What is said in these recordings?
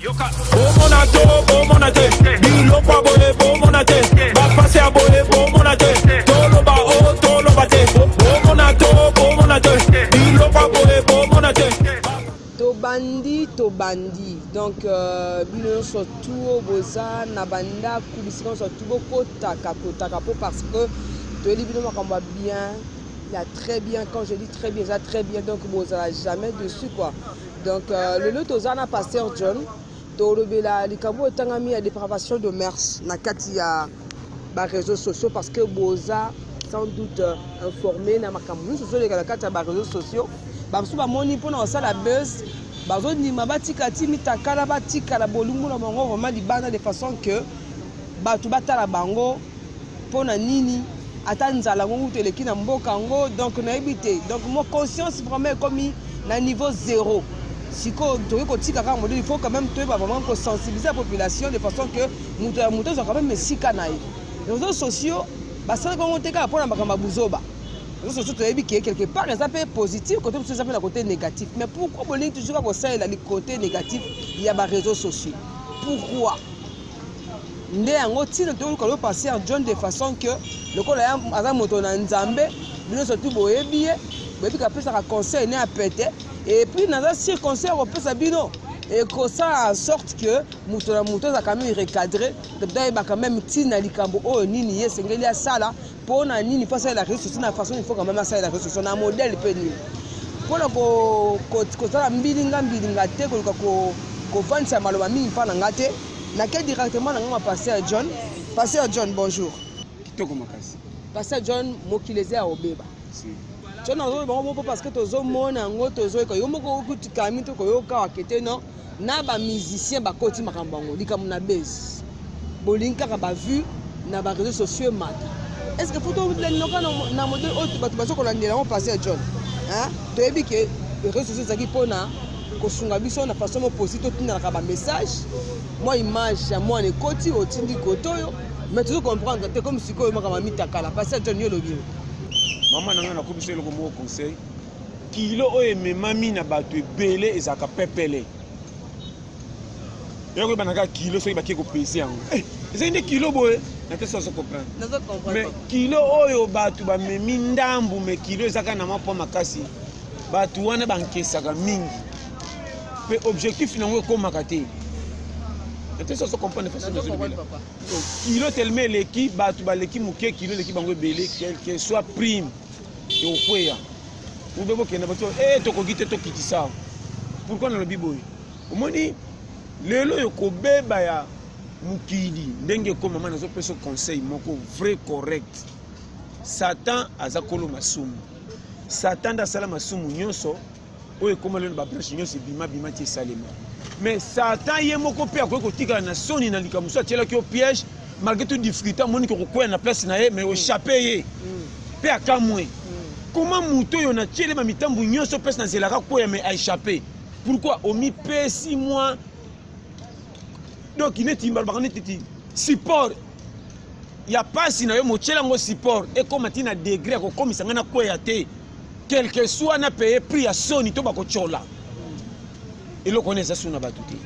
yoka bomona to bomona te biloko ya boye bomona te bapasi ya boye bomona te toloba o toloba te bomona to bomona te biloko ya boye bomona te tobandi tobandi donc euh, bino nyonso tu oyo boza na bandako bisika nyonso tu bokotaka kotaka mpo parce que toyebi bino makambo ya bien ya très bien quand je dis très bien eza très bien donc bozala jamais dessus quoi Donc euh, lelo toza na pasteur John tolobela likambo etangami ya depravation de mers na kati ya ba réseaux sociaux parce que boza sans doute euh, informé na makambo nyonso ozoleka na kati ya ba réseaux sociaux bamosusu bamoni mpona kosala buzz bazondima batika ti mitakala batikala bolingo na bango vraiment libanda de façon que bato batala bango mpo na nini ata nzala yango kutu eleki na mboka yango donc nayebi te donc mo conscience vraiment ekomi na niveau zero sikoyo tokoki kotika kaka modele il faut quand même toyeba vraiment kosensibilize la population de façon que moto ya moto azwa quand même esika na ye réseaux sociaux basalaki yango te kaka mpo na makambo ya buzoba réseaux sociaux toyebi ke quelque part eza mpe positif kote mosusu eza mpe na kote négatif mais pourquoi bolingi toujours kaka kosalela likote négatif ya baréseaux sociaux pourquoi nde yango ntina toluka yo pasteur john de façon que lokola ya aza moto na nzambe bino surtout boyebi ye boyebi kapesaka conseil ne ya pete epuis naza sur conseil akopesa bino ekosala sorte que moto na moto azalaka meme recadre toyebaka meme ntina likambo oyo nini ye esengeli asala mpo na nini mpo asalela réseau sociaux na façon ifoka mama asalela réseau sociaux na modèle mpe nini mpo na kosala mbilinga mbilinga te koluka kovandisa maloba mingi mpa na ngai te nake directement na ngai ma pasteur john pasteur john bonjour kitoko makasi pasteur john mokili eza ya kobeba john azoloba yango moko parce que tozomona yango tozoyoka yo moko okutikami to koyoka wake te non na ba musiciens bakoti makambo yango likambo na base bolingi kaka ba vue na ba réseaux sociaux emata est ce que foto lelinoka na modele oyo oh, bato baza kolandela yango passé ya john toyebi ke réseaux sociaux ezalaki mpona kosunga biso na façon moposi totindalaka bamessage mwa image ya mwana ekoti otindi kote oyo mais tozo comprendre te comme sikoyo makambo ya mitakala passé ya john yo olobi mama na ngai nakomisa eloko moko conseil kilo oyo ememami na bato ebele ezalaka pepele ya koyeba na kaka kilo soki bake kopese yango eh, ezali nde kilo boye na te soso comprendre mais kilo oyo bato bamemi ndambu mais kilo eza kaka na mwa mpo makasi bato wana bankesaka mingi mpe objectif na yango ekomaka te na te soso comprendre façon nazolobela kilo telema eleki bato baleki moke kilo eleki bango ebele quelque soit prime tokweya ube bokende bato e eh, tokoki te tokitisa pourkui nalobi boye omoni lelo oyo kobeba ya mokili ndenge ekomama nazopesa conseil moko vrai correct satan aza kolo masumu satan nde asala masumu nyonso oyo ekoma lelo babrashe nyonso ebima bima ti esalema mais satan ye moko mpe akoki kotikala na soni na likambo mosusu atyelaki yo piège malgré tout difficulté amoniki okokwela na place na ye mais ochape ye mpe mm. akamwe mm. koma moto oyo natyele bamitambo nyonso place na nzelaka kweya mais aechappe pourquoi omipesi mwa donc neti mbalobaka netiti support ya mpasi na yo motyela yango support ekóma ntina degre ya kokomisa ngai na kweya te quelque soit na paye prix ya soni to bakotyola eloko wana eza soni na bato te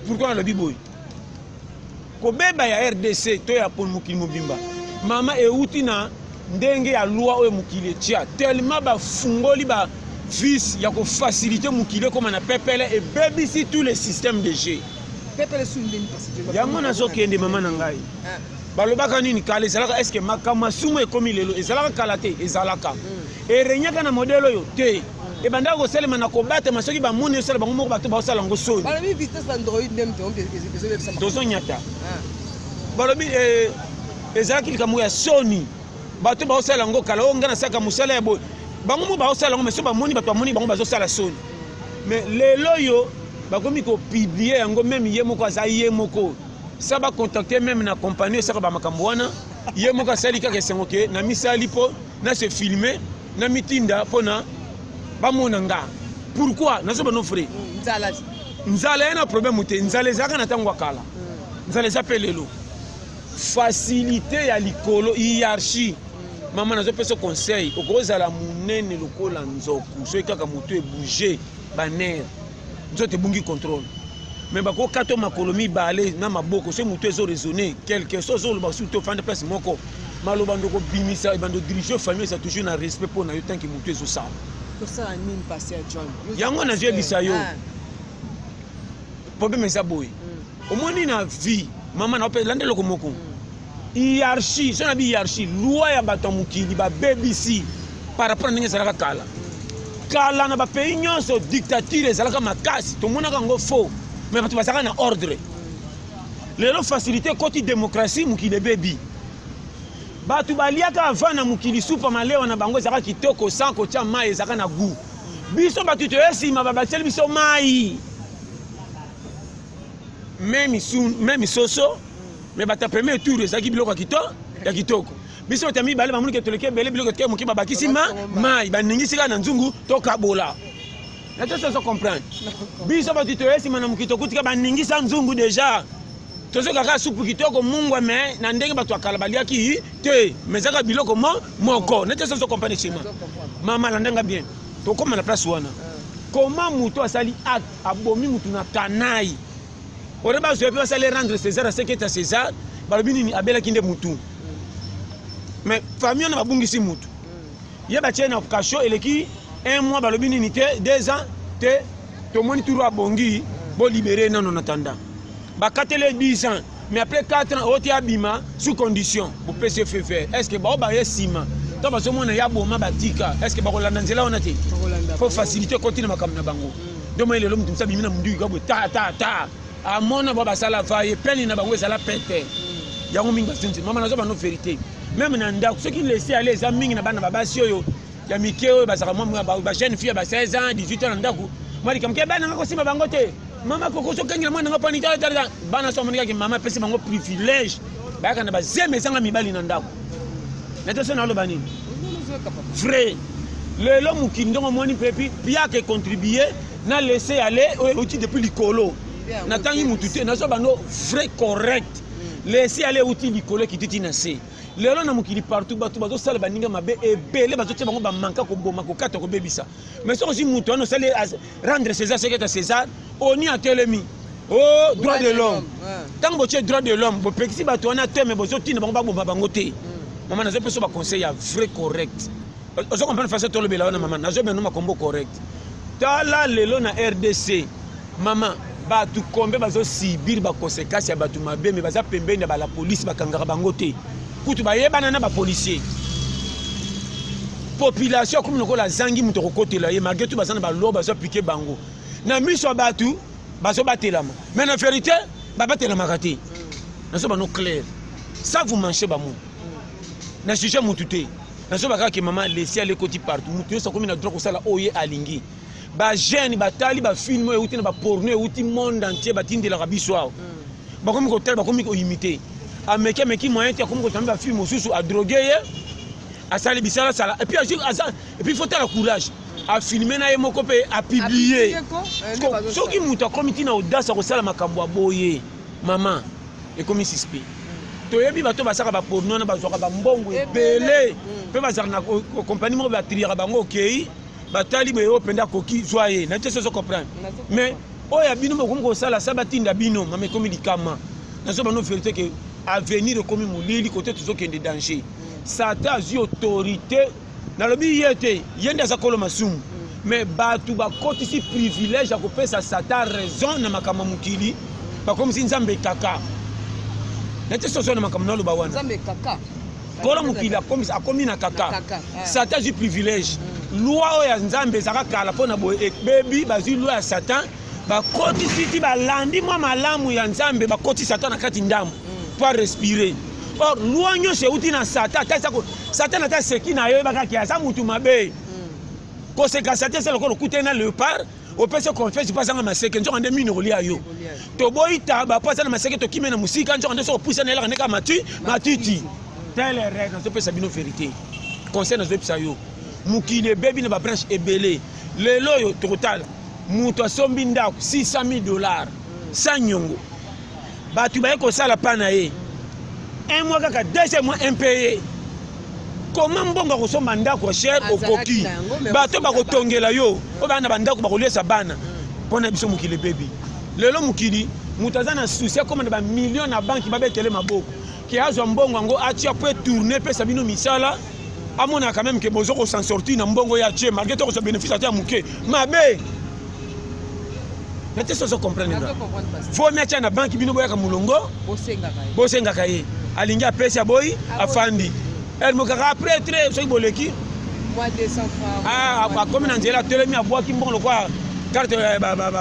pourkui nalobi boye kobeba ya rdc to ya mokili mobimba mama euti na ndenge ya loi oyo mokili etya tellement bafungoli ba vice ya kofasilite mokili ekóma na pepele ebebisi tout le système de jeu yango nazokende mama na ngai ah. balobaka nini kala ezalaka eske makambo ya sumu ekomi lelo ezalaka kala te ezalaka mm. erenyaka na modele oyo te mm. ebandaka kosalema na kobatama soki bamoni osala bango moko bato baosala yango soni tozonyata ah. balobi eh, ezalaki likambo ya soni bato baosala yango kala oyo ngai nasalaka mosala ya boye bango moko baosala yango meso bamoni bato bamoni bango bazosala soni mais lelo oyo bakomi kopiblie yango meme ye moko aza ye moko sa ba contacte meme na compagnie esaka ba makambo wana ye moko asali kaka esengo ke na misali mpo na se filme na mitinda mpo na bamona nga pourquoi nazoba no frais nzala ye na problème te nzala ezalaka na ntango ya kala mm. nzala eza mpe lelo facilité ya likolo hiérarchie mama nazopesa conseil okozala monene lokola nzoku soki kaka moto ebouge banere nzoto ebungi contrôle mais bakokata makolo mibale na maboko se motu ezo raisonne quelque so ozoloba sutu ofandi place moko maloba ndo kobimisa ebando dirige famille eza toujours na respect mpo na yo tanke motu ezosala yango nazoyebisa yo ah. problème eza boye mm. omoni na vie mama na ope landa eloko moko hiérarchie so na bi hiérarchie loi ya bato ya mokili babebisi par rapport na ndenge ezalaka kala kala na bapays nyonso dictature ezalaka makasi tomonaka yango faux mais bato bazalaka na ordre lelo facilité ekoti démocratie mokili ebebi bato baliaka avant na mokili supa malewa na bango ezalaka kitoko sans kotya mai ezalaka na gout biso bato toye nsima babakiseli biso mai me misoso me bata premier tour ezalaki biloko ya kito ya kitoko biso bata mibale bamoni ke toleki ebele biloko etike moke babakisi ma mai baningisi kaka na nzungu tokabola na toso ozo comprendre biso bato toye nsima na mokili tokutika baningisa nzungu deja tozokaka supu kitoko mungwa me na ndenge bato ya kala baliaki te me ezaka biloko mo moko na toso ozo comprendre nsima mama alandanga bien tokóma na place wana koma moto asali acte abomi mutu na kanai ore bazwa mpe basali rendre césar aseketa césar balobi nini abelaki nde mutu mais famille wana babungisi mutu ye batie na kasho eleki un mois balobi nini te deux ans te tomoni turu abongi bolibere nano na tanda bakatele 10 ans mais après 4 ans oti abima sous condition bopesi ye fever est ce que bao baye nsima to bazomona ya boma batika est ce que bakolanda nzela wana te mpo facilité ekoti na makambo na bango nde moi lelo moto mosa bimi na mondiki kabwe ta ta ta amona bao basala vaye pene na bango ezala pete yango mingi basenzi mama nazoba no verité meme na ndako soki lesi ale eza mingi na bana babasi oyo ya mike oyo bazalaka ba jeune fille ya ba 16 ans 18 ans na ndako mwa likambo ke bana nga kosimba bango te mama kokosi okengela mwana nga pani talatala bana so amonikaki mama apesi bango privilège bayaka na bazeme ezanga mibali na ndako nete so naloba nini vrai lelo mokili ndongo omoni mpe epi piaka econtribue na laisse aller oyo euti depuis likolo natangi motu te nazwa bando vrai correct laisse aller euti likolo ekititi na se lelo na mokili partout bato bazosala baninga mabe ebele bazotia bango bamanka koboma kokata kobebisa mais soki ozwi moto wana osali rendre césar ce keta césar oni atelemi o oh, droit de l'homme ntango botie droit de l'homme bopekisi bato wana te mais bozotinda bango baboma bango te hmm. mama nazopesa baconseil ya vrai correct ozo comprendre façon tolobela wana mama nazobenda makombo correct tala lelo na rdc Mama, batu kombe bazo subir ba conséquences ya batu mabe mais baza pembeni ya ba la police bakangaka bango te. Kutu bayebana na ba policiers. Population comme lokola zangi moto kokotela ye malgré tout baza na ba loi bazo appliquer bango. Na miso ya batu bazo batelama. Mais na vérité babatelamaka te. Nazo bano clair. Ça vous manchez ba mots. Na sujet mutu te. nazoba kaka ke mama lesi ale ekoti partout moto nyonso akomi na droit kosala oyo ye alingi ba jeune batali ba film oyo euti na ba porno euti monde entier batindelaka biso awa mm. bakomi kotala bakomi koimite ameki ameki moyen te akomi kotala ba film mosusu adroge ye asali bisalasala epuis azwi aza epuis faut tala courage afilme na ye moko mpe apiblie eh, soki moto akomi ntina audace akosala makambo ya boye mama ekomi suspect mm. toyebi bato basaka baporno wana bazwaka bambongo ebele mpe mm. bazalaka na kompani moko batriyaka bango okei okay. batali boye oyo mpenza akoki zwa ye na te soso comprendre mais oyo ya bino bokomi kosala sa batinda bino mama ekomi likama nazo bano verité ke avenir ekomi molili kote tozokende danger mm. satan azwi autorité nalobi ye te ye nde aza kolo masumu mm. mais bato bakotisi privilège ya kopesa satan raison na makambo ya mokili bakomisi nzambe kaka na te soso na makambo naloba wana Polo mokili akomisa akomi na kaka. Satan azwi privilège. Mm. Loi oyo ya Nzambe ezaka kala mpo na boye ebebi bazwi loi ya Satan bakotisi ti balandi mwa malamu ya Nzambe bakotisi Satan na kati ndambo mm. mpo arespire. Or loi nyonso euti na Satan ata eza Satan ata seki na yo yebaka ke aza motu mabe. Mm. Koseka Satan eza lokola okutani na leopard opesi confesse mpo azanga maseke nzoka nde mino kolia yo toboyi taba mpo aza na maseke tokimi na mosika nzoka nde soki opusa na elaka nde kaka mati matiti tele règle nazopesa bino verité conseil nazopesa yo mokili ebebi na babranche ebele lelo oyo tokotala moto asombi ndako 600 000 dollars sa nyongo bato baye kosala pa na ye un mois kaka deuxième mois impayé koma mbongo ya kosomba ndako ya cher okoki bato bakotongela yo oyo baa na bandako bakoliesa bana mpo na biso mokili ebebi lelo mokili moto aza na susi akóma na bamilio na banki babetele maboko ke azwa mbongo yango atia mpo etourne epesa bino misala amona quand même ke bozo ko s'en sortir na mbongo ya ce malgré to kozwa bénéfice ata ya moke mabe na te sozo comprendre nga fomi atia na banki bino boyaka molongo bosengaka ye alingi apesi aboyi afandi ere mokaka après tre soki boleki akomi na nzela atelemi abwaki mbongo lokola carte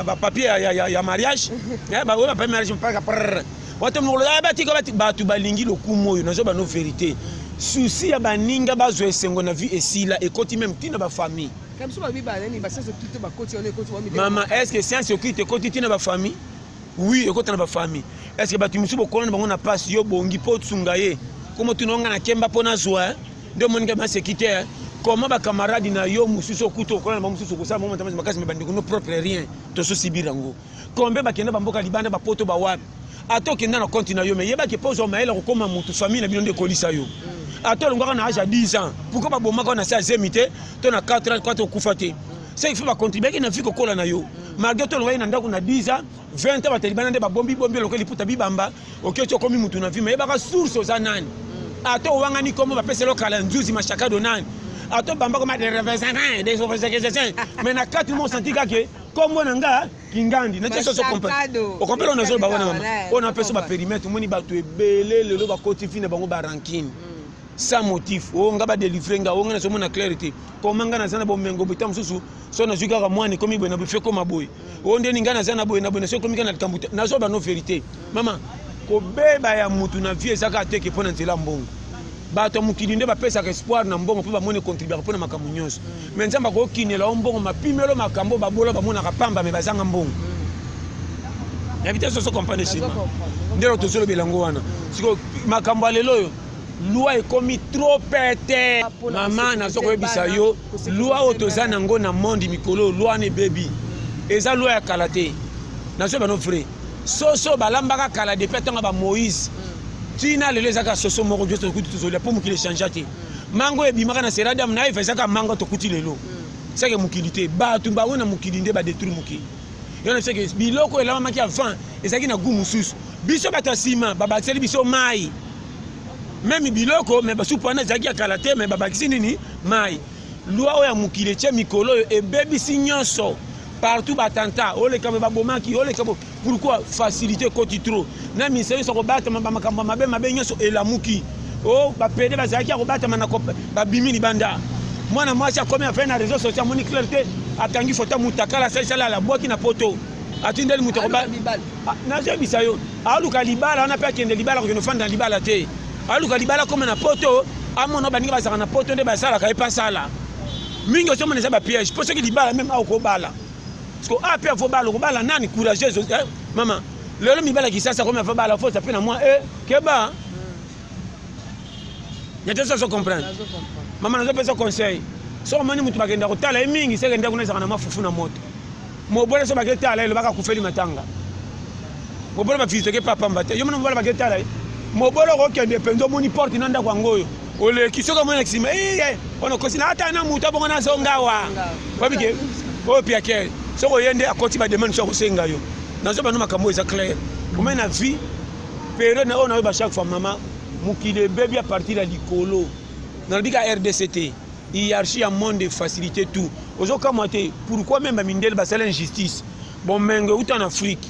bapapier ya mariage oyo bapapier mariage mpaka bato mokolo yaya batika bati bato balingi lokumu oyo nazo bano verité susi ya baninga bazwa esengo na vie esila ekoti meme ntina bafamille mama estce science okite ekoti ntina bafamille wi ekota na bafamille estce bato mosusu bokola na bango na mpasi yo bongi mpo osunga ye komo tuna onga na kemba mpo nazwa nde omonika maseki te koma bakamarade na yo mosusu okuta okola na bango mosusu okosala bango matamasi makasi me bandeko no propre rien tososibira yango Combien bakenda ba mboka libanda ba poto ba wapi? Ata okenda na compte na yo mais yeba ke po ozwa mayele kokoma mutu famille na bino nde ekolisa yo. Ata olongwaka na age ya 10 ans, pourquoi ba bomaka na se ya zemi te to na 4 ans kwata okufa te? Ce qui fait ba contribuer na vie kokola na yo. Malgré to olongwaki na ndako na 10 ans, 20 ans batalibana nde ba bombi bombi lokola liputa bibamba, oketi okomi mutu na vie mais yebaka source oza nani. Ata owangani kombo bapesa yo kala nzuzi mashakado nani. Ata obamba koma des refaisants, des refaisants, mais na kati mo senti kaka kombo na nga kingandi na tieso okompela na zolo bawana mama oyo na peso baperimetre omoni bato ebele lelo bakoti fi na bango barankine hmm. sans motif o oh, nga badelivre nga o oh, nga nazomona claire te koma nga naza na bomengo boye ntango mosusu so nazwi kaka mwani ekomi boye na boye fe ekoma boye o oh, ndeni nga naza na boye na boye na so ekomi kaka na likambo te nazoba no verité mama kobeba ya mutu na vie eza kaka te ke mpo na nzela mbongo bato ya mokili nde bapesaka espoir na mbongo mpo bamoni econtribuaka mpo na makambo nyonso me nzambe akokinela o mbongo mapimelo makambo babola bamonaka pamba me bazanga mbongo yabi te soso comprendre sima nde lo tozolobela yango wana siko makambo ya lelo oyo lwa ekomi trop pete mama nazo koyebisa yo lwa oyo toza na yango na monde mikolo lwa na ebebi eza lwa ya kala te nazoyeba no vrai soso balambaka kala depuis atanga ba moïse mm. tina lelo ezaka soso moko nioso tokuti tozolia mpo mokili echangea te mm. mango ebimaka na seradiam na eva ezaka mango tokuti lelo mm. seke mokili te bato bango na mokili nde badetruire mokili yona seke biloko elamamaki avant ezalaki na gu mosusu biso bato ya nsima babakiseli biso mai meme biloko me basupu wana ezalaki ya kala te me babakisi nini mai Loi oyo ya mokili etie mikolo oyo ebebisi nyonso partout batanta oleka me babomaki oleka pourquoi facilité ekoti trop na ministère nyonso akobatama bamakambo ya mabe mabe nyonso elamuki o oh, bapede bazalaki ya kobatama na babimi libanda mwana mwasi akomi apene na réseau sociaux amoni claire te akangi foto mutakala asalisali alabwaki na poto atindeli moto akoba nazoyebisa yo aoluka libala wana mpe akende libala kokende ofanda na libala te aluka libala akoma na poto amona baninga bazalaka na poto nde basalaka ye mpe asala mingi ozomona eza bapiège mpo soki libala meme awa okobala siko a mpe avo bala okobala nani courageuse eh, mama lelo mibala kisasa akomi avo bala fosa mpe na mwa e eh, keba nete soso comprendre mama nazopesa conseil soki omoni moto bakenda kotala ye mingi sekende kuna ezalaka na mafufu na moto mobole so bake tala ye lobaka akufeli matanga mobole bafisiteke mpe apamba te yo mona mobole bake tala ye mobole okokende mpenza omoni porte na ndako yango oyo oleki soki omoni na nsima ee eh, eh, ono kosi na ata na moto abongo nazonga awa babike oyo piakere soki oye nde akoti bademande so akosenga yo nazoba no makambo oyo eza claire omai na vie periode na oyo nayoba chaque fois mama mokili ebebi a partir ya likolo nalobi ka rdc te Hierarchie ya monde e facilite tout. Ozo kamwa te pourquoi même ba mindele basala injustice. Bomengo euta na Afrique.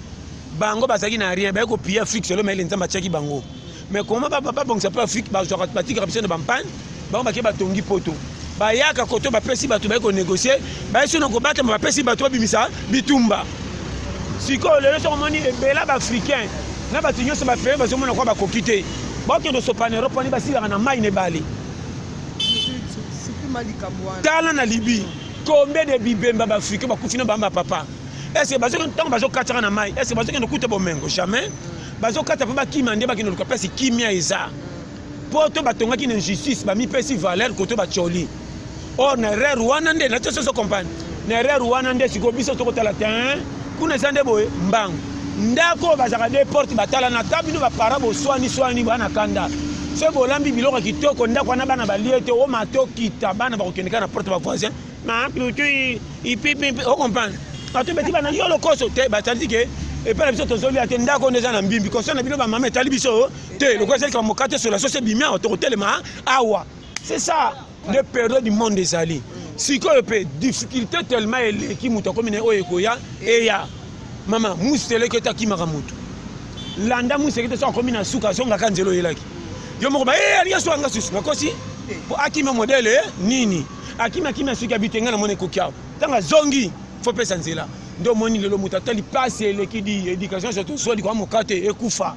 Bango bazalaki na rien, baye kopiye Afrique selo mayele Nzambe atiaki bango. Mais comment babongisa mpe Afrique bazwaka batikaka biso na bampagne, bango bake batongi poto. Bayaka koto bapesi bato baye konegocier, baye sono kobatama bapesi bato babimisa bitumba. Sikoyo lelo soko omoni ebela baafricain na bato nyonso bafeye bazomona kwa bakoki te. Bakende osopana Europe wani basilaka na mai na ebale. tala na libi combien de bibemba baafricain bakufi na bamba papa est-ce que bazokende ntango bazokataka na mai est-ce que bazokende kuta bomengo jamais bazokata mpe bakima nde bakende luka mpasi kimia eza mpo to batongaki na injustice bamipesi valeur koto bacoli or na erreur wana nde na te soso compagne na erreur wana nde sikoyo biso tokotala tein kuna eza nde boye mbangu ndako oyo bazalaka de porte batalana ata bino bapara boswani swani bana kanda soki bolambi biloko ya kitoko ndako wana bana balie te oma tokita bana bakokendeka na porte bavoisin ocomprendre bato beti bana yo lokoso te batalisi ke epai na biso tozolia te ndako nde eza na mbimbi constat na bino bamama etali biso te lokola ezali kama mokate sola soso ebimi awa tokotelema awa c'est ça nde periode monde ezali sikoyo mpe difficulté tellement eleki moto akomi na oyo ekoya eya mama museleke te akimaka moto landa museleke te so akomi na suka azongaka nzela oyelaki yo moko baye eh, alingi asuka nga susu nakosi mpo akima modele eh, nini akimi akimi asuki abite ngai namona ekoki awa ntango azongi fo pesa nzela nde omoni lelo moto atali mpasi eleki di education soto oswa likwa mokate ekufa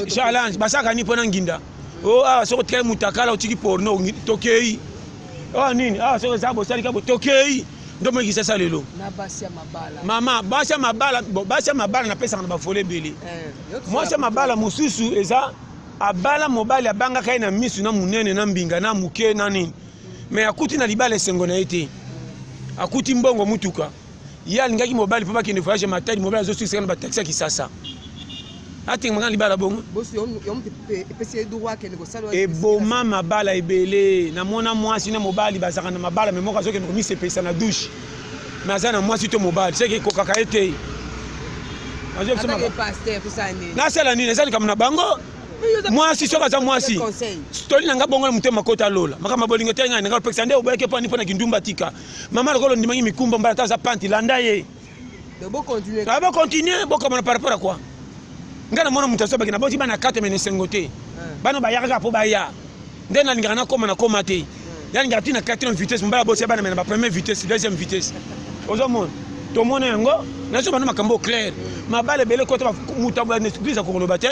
challenge basaka nini mpo na nginda o oh, awa ah, soki otikali mutakala otiki porno tokei oyo ah, nini awa ah, soki eza bosalika bo tokei nde omoi kisasa lelo mama basi ya mabala basi ya mabala napesaka na bafole ebele eh, mwasi ya mabala mosusu eza abala mobali abangaka ye na misu na monene na mbinga na moke na nini me akuti na libala esengo na ye te akuti mbongo motuka ye alingaki mobali mpo bakende voyage ya matadi mobali azosukisaka na bataxi ya kisasa atengemaka na libala bongo eboma mabala ebele namona mwasi na mobali bazalaka na mabala me moko azokende komisepelisa na douche me aza na mwasi to mobali seke ekokaka ye te nasala nini eza likambo na bango mwasi soki aza mwasi toli na ngai bongo na motema kota lola makambo ya bolingo te ngai na ngai opekisa nde oboyaki mpani mpo na kindumba tika Maman lokola ondimaki mikumba mbala ta aza panti landa ye. Donc bo continuer. Ah bo continuer bo kamona par rapport à quoi? Nga na mona mutu aso bakina boti bana kato mene sengo te. Bana bayaka kaka po baya. Nde nalingaka nakoma nakoma te. Nalingaka ti na quatrième vitesse mbala botia bana mene ba première vitesse, deuxième vitesse. Ozomona? tomona yango nazo bana makambo clair mabale ebele kota moto aboya na eglise akokoloba te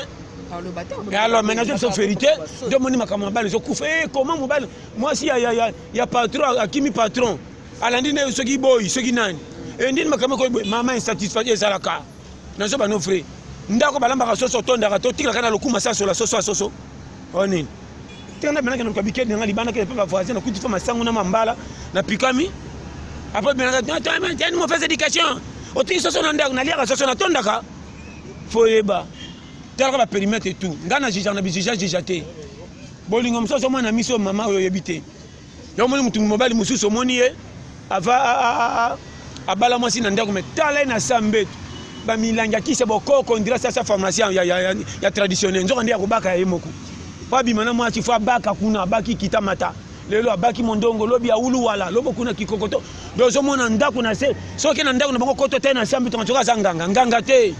alors maintenant je suis vérité de moni makambo mabale ezokufa e eh, comment mobali mwasi ya ya patron akimi patron alandi nayo soki boyi soki nani endini makambo ekoyi boye mama insatisfait ezalaka nazo bano vrai ndako balambaka soso otondaka totikaka na lokuma sa sola soso ya soso oyo nini te na benaka naluka bikeli nanga libanda kele mpe bavoisin nakuti mpe masango na mambala napikami apres benaka mauvaise éducation otiki soso na ndako naliaka soso natondaka fo yeba talaka baperimetre tout ngai na jijaka na bijija jija te Bolingo mosusu azomona na miso mama oyo oyebi te. Yo omoni motu mobali mosusu omoni ye ava abala mwasi na ndako me tala ye na sa mbetu bamilangi ya kisi ya bokoko ondira sasa pharmacien ya, ya, ya, ya traditionnel nzoka nde ya kobaka ya ye moko mpo abima na mwasi fo abaka kuna abaki kita mata lelo abaki mondongo lobi awulu wala lobo kuna kikokoto nde ozomona ndako na se soki na ndako na bango koto te na sambi tonga soki aza nganga nganga te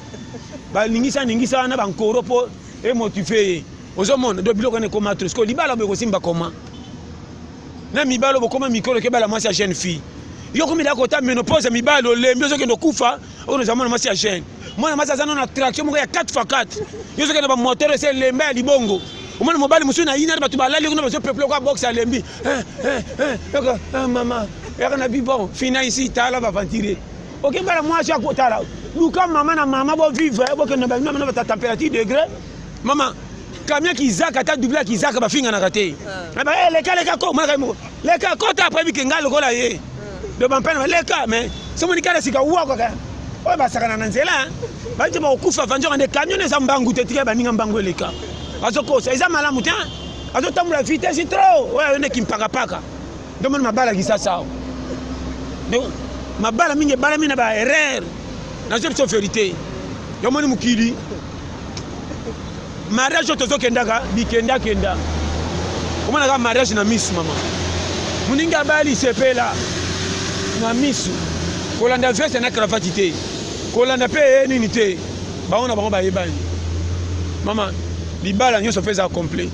balingisaningisa wana bankoro mpo e motive ye ozomona do biloko wana ekoma trop sikoyo libala boye kosimba koma na mibalo bokoma mikolo kebala mwasi ya jeune fille yo komilaka kota menopause ya mibali olembi ozokende okufa oyo noza mwana mwasi ya jeune mwana mwasi aza nano na traction moko ya 4 fa 4 yo ozokende bamoteur ese elemba ya libongo omoni mobali mosusu na inani bato balali kuna bazopeple kwa boxe alembi eh, eh, eh, mama yaka na bibon fina isi tala bavantire oke bala mwasi ya kotala luka mama na mama bo vivre eh, bokende ba mama na ba température degré mama kamia kizaka ata double ya kizaka bafinganaka te ah. eh, leka leka ko mwana kai moko leka kota après bike ngai lokola ye ah. do bampana baleka mais somoni kala sika wa kaka oyo basakana na nzela baite bakokufa vanzoka nde camion eza mbangu te tika baninga mbangu eleka bazokosa eza malamu te azotambola vitesse trop oyo ayonde kimpakapaka nde omoni mabala kisasa awa donc mabala mingi ebalami na ba erreur nazo biso verité nde omoni mokili mariage oyo tozokendaka bikendakenda omonaka mariage na misu mama moningi abali sepela na misu kolanda veste na cravati te kolanda mpe eye nini te bango na bango bayebani mama libala nyonso mpe eza complet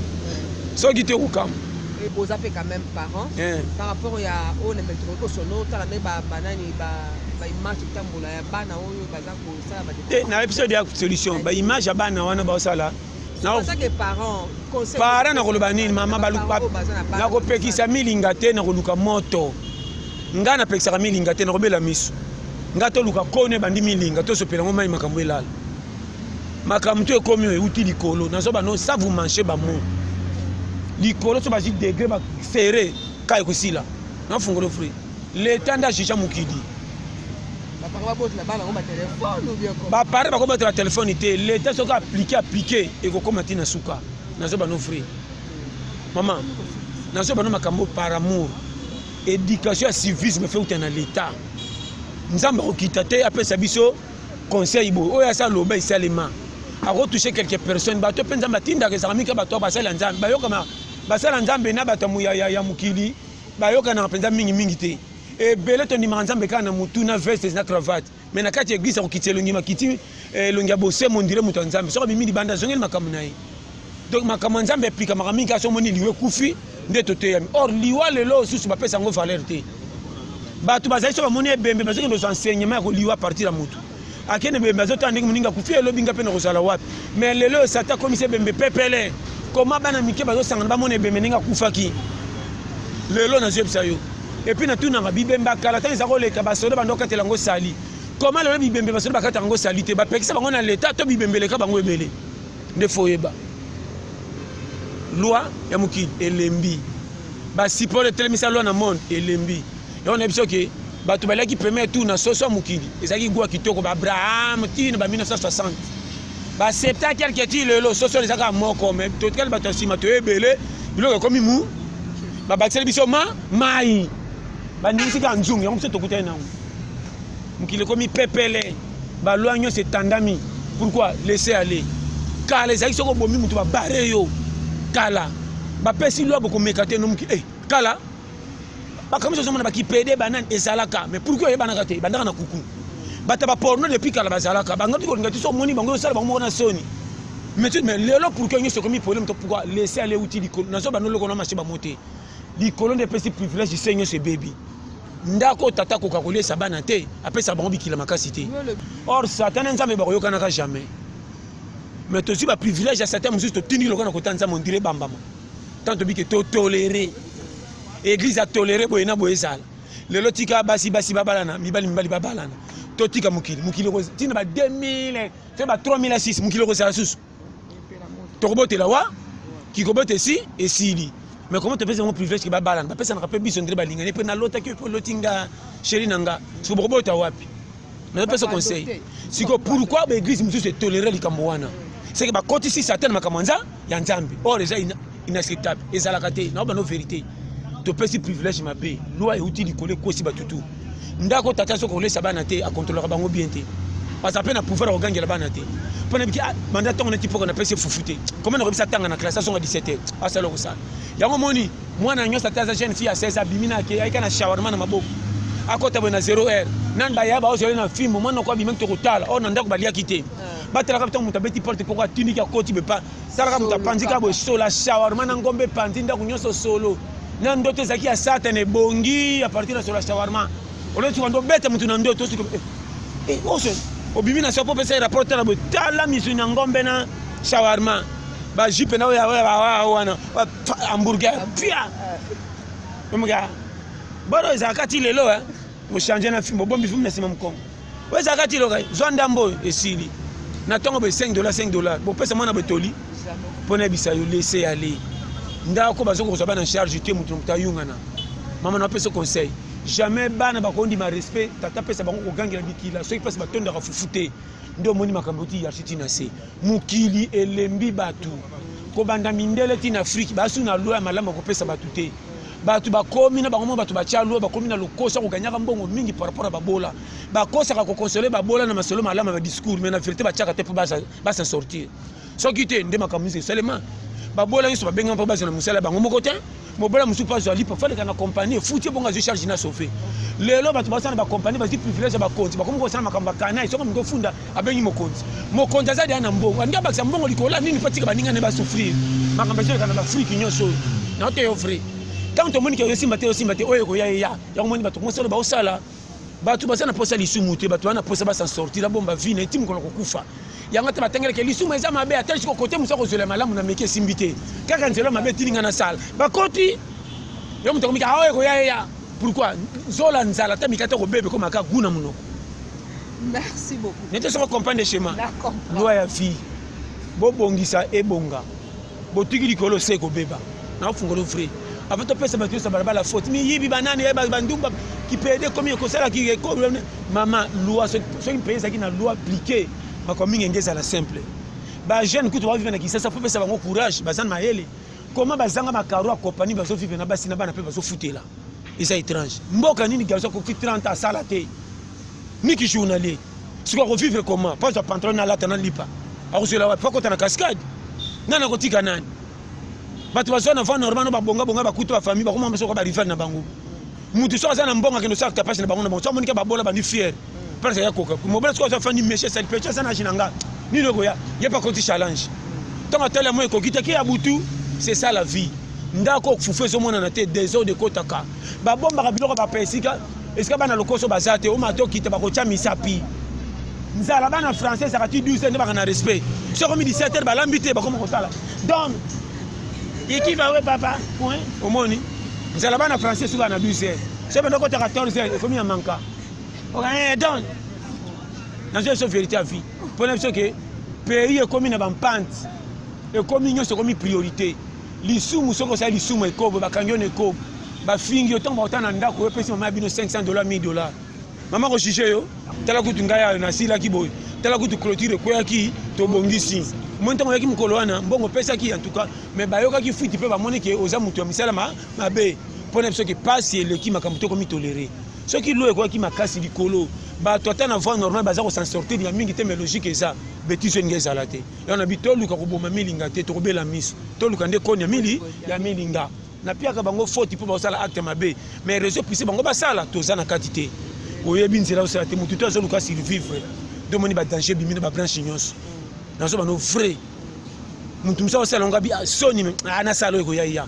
soki te kokamwa Et boza pe quand même parents eh. par rapport ya oyo na metro ko sono tala me ba banani ba ba image tambola ya bana oyo baza ko sala ba te na episode ya solution ba image ya bana wana ba sala para nakoloba nini mama nakopekisa milinga te nakoluka moto ngai napekisaka milinga te nakobela miso ngai toluka kone ebandi milinga tosopela ngo mai makambo elala makambo to ekomi oyo euti likolo nazo bano sa vous mange bamo likolo so bazwi degre basere ka ekosila nafungolo fri leta nde ajuja mokili bapare bakobatela telefone te leta soki aplike aplike ekokoma ntina suka nazo bano fri mama nazo bano makambo par amour éducation ya civisme feuta na leta nzambe akokita te apesa biso conseil boye oyo asi aloba esalema akotouche quelque personne bato mpe nzambe atindaka ezalaka mingi bato basali ya nzambe bayokana basala nzambe na bato ya mokili bayokanaka mpenza mingimingi te ebele tondimaka nzambe kaka na motu na vestes na cravate mai na kati ya eglise akokitisa elongi makiti eh, elongi ya bosemo ndire moto ya nzambe soki abimi libanda azongeli makambo na ye donc makambo ya nzambe eplikamaka mingi kasi omoni liwa ekufi nde toteyami or liwa lelo osusu bapesa yango valeur te bato bazali so bamoni ebembe bazokende kozwa enseignement ya koliwa partir ya motu akende ebembe azotala ndenge moninga akufi elobi nga mpe nakozala wapi mais lelo oyo sata akomisi ebembe pepele koma bana mike bazosangana bamona ebembe ndenge akufaki lelo nazoyebisa yo epuis natunaka bibemba kala ntango eza koleka basoda bando okatela yango sali koma lelo bibembe basoda bakataka yango sali te bapekisa bango na leta to bibembe eleka bango ebele nde fo oyeba loi ya mokili elembi basipolo etelemisa loi na monde elembi yango na biso ke bato baliaki premier tour na soso ya mokili ezalaki gwa kitoko baabraham tina ba 1960 baaccepta quelque ti lelo soso ezaka moko me totikali bato ya nsima toye ebele biloko ekomi mu babakiseli biso ma mai bandimisi kaka nzungu yango biso tokutani nango mokili ekomi pepele balwa nyonso etandami pourquoi laisser aller kala ezalaki soki obomi moto babare yo kala bapesi lwa bokomeka te nomoki e eh, kala makambo nyonso ozomona bakipede banani ezalaka mais pourkui oyebanaka te bandaka na kuku bato baporno depuis kala bazalaka bangati kolinga ti so omoni bango osala bango moko na soni mais lelo pourkui nyonso ekomi problème to pourkui laisse ale euti likolo nazo banda oloko na mashe bango te likolo nde epesi privilège se nyonso ebebi ndako oyo tata akoka koliesa bana te apesaka bango bikila makasi te or satan na nzambe bakoyokanaka jamais mais tozwi baprivilège ya satan mosusu totindiki lokola na kota nzambe ondire bambama ntango tobike totolere eglize atolere boye na boye ezala lelo tika basi basi babalana mibali mibali babalana totika mokili mokili ntina ba 2000 fe ba 3006 mokili okozala susu tokobotela wa kikobota esi esili mais comment topesi yango privilège ke babalana bapesanaka mpe biso ndele balingani mpe nalotaki yo mpe oloti nga sheri na nga siko bokobota wapi nazopesa conseil siko pourquoi baeglise mosusu etolere likambo wana seke bakotisi satan na makambo ya nzambe or eza inacceptable ezalaka te na bano verité topesi privilège mabe loi euti likolo ekosi bato tu ndako tata soki kolesa bana te akontrolaka bango bien te aza mpe na pouvoir ya kogangela bana te mpo nayebiki ah, banda ntango neti mpoka napesi efufu te koma nakobisa ntanga na classe azonga 17 heure asala kosala yango moni mwana nyonso ata aza jeune fille ya 16 abimi na ake ayika na shawarma na maboko akota boye na 0 heure nani baya baozali na fimbo mwana oko abimaki tokotala oyo oh, na ndako baliaki te ah. batalaka ntango moto abeti porte poko atiniki akoti bepa talaka moto apanzi kaka boye sola shawarma na ngombe epanzi ndako nyonso solo na ndoto ezalaki ya satana ebongi apartir na sola shawarma olosuka nde obeta moto na ndoto osuka eh, eh, oso obimi na soko opesa ye rapport tala boye tala misuni ya ngombe na shawarma bajupe na oyo wana hamburger pia omoka bana ezalaka ti lelo eh. mochange na fimbo bombi fimbo na nsima mokongo oyo ezalaka ti loka zwa ndambo oyo esili na ntongo boye 5 dollar 5 dollar bopesa mwana botoli mpo nayebisa yo lese ya le ndako bazonga kozwa bana charge te moto na moto ayungana mama na apesa conseil jamais bana bakondima respect tata apesa bango kogangela bikila soki mpasi batondaka fufu te nde omoni makambo oti yarchi ti na se mokili elembi bato kobanda mindele ti na afrike basu na loi ya malamu ya kopesa bato te bato bakomi na bango moko bato batya lwa bakomi na lokoso ya koganyaka mbongo mingi par rapport ya babola bakosaka kokonsole babola na masolo malamu ya badiscours mai na verité batyaka te mpo basa sortir soki te nde makambo nyonso esalema babola nyonso babengama mpo bazwa na mosala ya bango moko te mobola mosusu mpo azwa lipa faleka na kompani efuti ebongo azwi charge na sauve lelo bato basala na bakompani bazwi privilège ya bakonzi bakomi kosala makambo ya kanai soki moto ofunda abengi mokonzi mokonzi aza deya na mbongo alingi abakisa mbongo likolo ya nini mpo atika baninga ne basouffrir makambo ezoleka na baafrike nyonso oyo naote yo vrai ntango tomoni ke oyosimba te osimba te oyo ekoya eya yango moni bato mosolo baosala bato baza na mposa ya lisumu te bato wana mposa basan sortir abomba vi na eti mokolo kokufa yango te batangeleke lisumu eza mabe ata lisiko kote mosu akozwela malamu na meki esimbi te kaka nzela mabe etili ngai nasala bakoti yo moto akomika aoyo ekoya eya pourkui zola nzala ata mikate okobebe komaka gu na monoko Merci beaucoup. Nete soko comprendre schéma. Loi ya vie. Bobongisa ebonga. Botuki likolo se ekobeba. Na ofungolo vrai. Avant topesa bato nyonso balabala faute. Miyibi banani ya bandumba kipede ekomi ekosala kiekomi mama loi soki mpe ezalaki na loi appliqué makambo mingi enge ezala simple bajeune kutu bavive na kisasa mpo pesa bango courage baza na mayele koma bazanga makaro ya kopani bazovivre na basi na bana mpe bazofutela eza étrange mboka nini garçon akoki 30 ans asala te miki journalier sikoyo akovivre comment mpo azwa pantalon na alata na lipa akozwela wapi mpo akota na cascade nani akotika nani bato bazwa na vent normal no babongabonga bakuta bafamille bakoma mosoka barival na bango moto so aza na mbongo akende osala tapage na bango na bango so amonike babola bandi fiere parce ya koka mobali soki aza fandi meshe sali pecha sana age na nga nini okoya ye pa koti challenge ntango atali yango ekoki te ke ya butu c'est ça la vie ndako okufufu ezomonana te desordre ekotaka babombaka biloko bapa esika esika bana lokoso baza te omata okita bakotya misapi nzala bana français ezaka ti 12 nde baka na respect soki omi 17 heure balambi te bakoma kosala donc ikiva we papa omoni nzala bana français soki na 12 heure soki banda okota 14 heure ekomi ya manka Eh, donc nazo biso vérité ya vie mpo na biso ke pays ekomi na bampante ekomi nyonso ekomi priorité lisumu soki osali lisumu ekobo bakangi yo na ekobo bafingi yo ntango bakota na ndako oyopesi mama ya bino 500 dollar 1000 dollar mama kojuge yo tala kutu ngai ayo nasilaki boye tala kutu clôture ekweyaki tobongisi omoni ntango oyaki mokolo wana mbongo opesaki en tout cas mais bayokaki fuiti mpe bamoni ke oza moto ya misala mabe mpo na biso ke pasi eleki makambo tokomi tolere soki lo ekwaki makasi likolo bato ata na voie normale baza kosan sortir ya mingi te mais logique eza betise olinga ezala te yango na bi toluka koboma milinga te tokobela miso toluka nde koni ya mili ya milinga napiaka bango foti mpo bakosala acte mabe mais réseau pise bango basala toza na kati te oyebi nzela osala te motu te azoluka survivre domoni badanger ebimi na babranche nyonso nazobano vrai motu mosusu akosala yango abi ah, soni ah, nasala oyo ekoya ya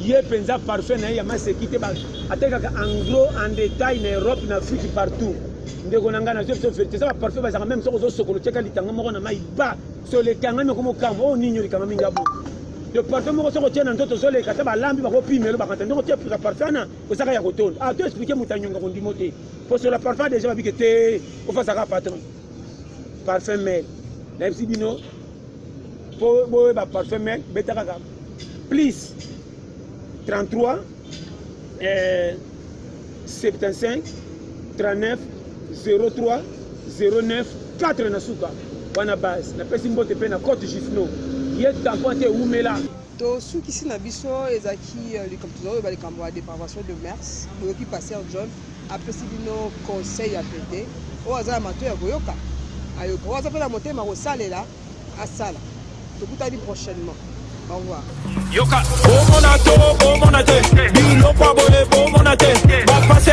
ye penza parfum na ye ya maseki te atekaka en gros en détail na europe na afrique partout ndeko na ngai nazwi biso verité eza baparfum bazalaka meme soki ozosokolo tyaka litanga moko na mai ba solo ekangami okoma okamba oyo oh, nini olikanga mingi abo le parfum moko soki otye na nzoto ozoleka ata balambi bakopimelo bakanta ndenge otye pika parfum na ozaka ya kotonda ato ah, explike moto anyonga kondimo te mpo sola parfum deja babike te ofasaka patron parfum mel nayebisi bino mpo boyeba parfum mel beta kaka plus 33 eh, 75 39 03 09 4 na suka wana base napesi mbote mpe na cote jusno ye tampon te ewumela tosukisi na biso ezalaki euh, likambo tozoyeba likambo ya depravation de mers boyoki pasteur john apesi bino conseil ya pete oyo aza na mato ya koyoka ayoka oyo aza mpe na motema kosalela asala tokutani prochainement au revoir yoka bomona to bomona te biloko aboye bomona te bapase